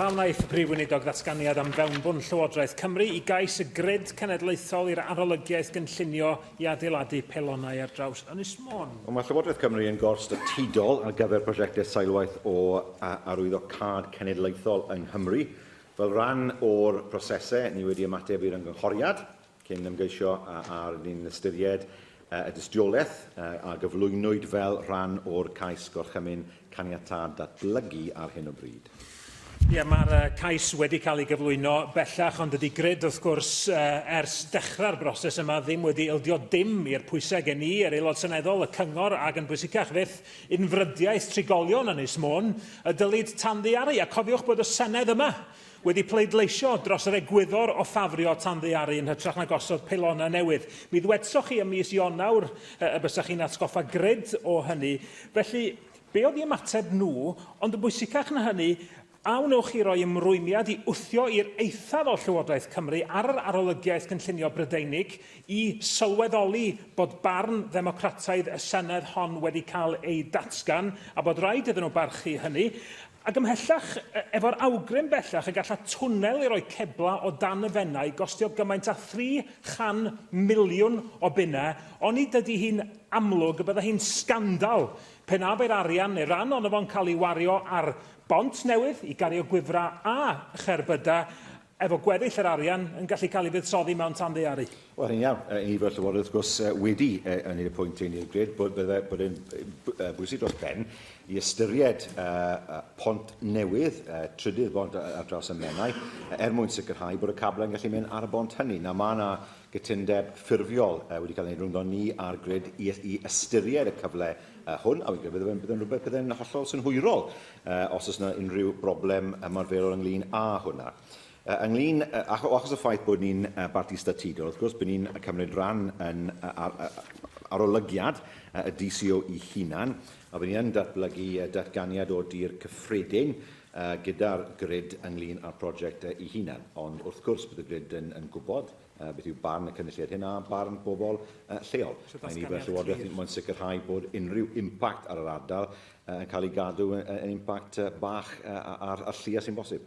Pam wnaeth y Prif Weinidog ddatganiad am fewnbwn Llywodraeth Cymru i gais y Grid Cenedlaethol i'r arolygiaeth gynllunio i adeiladu pelonau ar draws Ynys Môn? Wel, mae Llywodraeth Cymru yn gor-statudol ar gyfer prosiectau seilwaith o arwyddo cad cenedlaethol yng Nghymru. Fel rhan o'r prosesau, ni wedi ymateb i'r ymgynghoriad Cyn ymgeisio a aru ni'n ystyried y dystiolaeth a gyflwynwyd fel rhan o'r cais Gorchymyn Caniatâd Datblygu ar hyn o bryd. Ie, mae'r cais wedi cael ei gyflwyno bellach, ond dydy grid, wrth gwrs, ers dechrau'r broses yma ddim wedi ildio dim i'r pwysau gen i, yr Aelod Seneddol, y Cyngor, ac yn bwysicach fyth, unfrydiaeth trigolion Ynys Môn, y dylid tanddaearu. A cofiwch bod y Senedd yma Wedi pleidleisio dros yr egwyddor o ffafrio tanddaearu yn hytrach na gosod peilonau newydd. Mi ddwedsoch chi ym mis Ionawr y bysach chi'n atgoffa gred o hynny. Felly, be oedd i ymateb nhw, ond yn bwysicach na hynny, a wnewch chi roi ymrwymiad i wthio i'r eithaf o Llywodraeth Cymru ar yr Arolygiaeth Gynllunio Brydeinig i sylweddoli bod barn ddemocrataidd y Senedd hon wedi cael ei datgan a bod raid iddyn nhw barchu hynny, Ac ymhellach, efo'r awgrym bellach y galla twnnel i roi ceblau o dan y Fenai gostio gymaint â 300 miliwn o bunnau, oni dydy hi'n amlwg y bydda hi'n sgandal pe na bai'r arian, neu ran ono fo'n cael ei wario ar bont newydd i gario gwifrau a cherbydau, efo gweddill yr arian yn gallu cael ei fuddsoddi mewn tanddaearu. Wel, hynny'n iawn. Yn ni fel Llywodraeth, wrth gwrs, wedi ynni y pwynt hyn, ni'n gred bod, bod, bod yn bwysig dros ben i ystyried uh, pont newydd, uh, trydydd bont ar draws y Menai, er mwyn sicrhau bod y cablau yn gallu mynd ar y bont hynny. Na, mae yna Cytundeb ffurfiol wedi cael ei rwyndo ni a'r grid i, i ystyried y cyfle hwn, a fi'n credu byddai'n byddai rhywbeth byddai'n hollol synhwyrol os oes yna unrhyw broblem ymarferol ynglyn â hwnna. Uh, ynglyn, uh, achos y ffaith bod ni'n uh, barti statudol, wrth gwrs, bod ni'n cymryd rhan yn uh, ar, uh, arolygiad uh, y DCO i hunan, a bod ni'n datblygu uh, datganiad o dir cyffredin a gyda'r grid ynglŷn â'r prosiect ei hunan, ond wrth gwrs bydd y grid yn yn gwybod beth yw barn y cynulliad hyn a barn bobl lleol. Mae ni fel Llywodraeth yn moyn sicrhau bod unrhyw impact ar yr ardal yn cael ei gadw yn impact bach a'r llia sy'n bosib.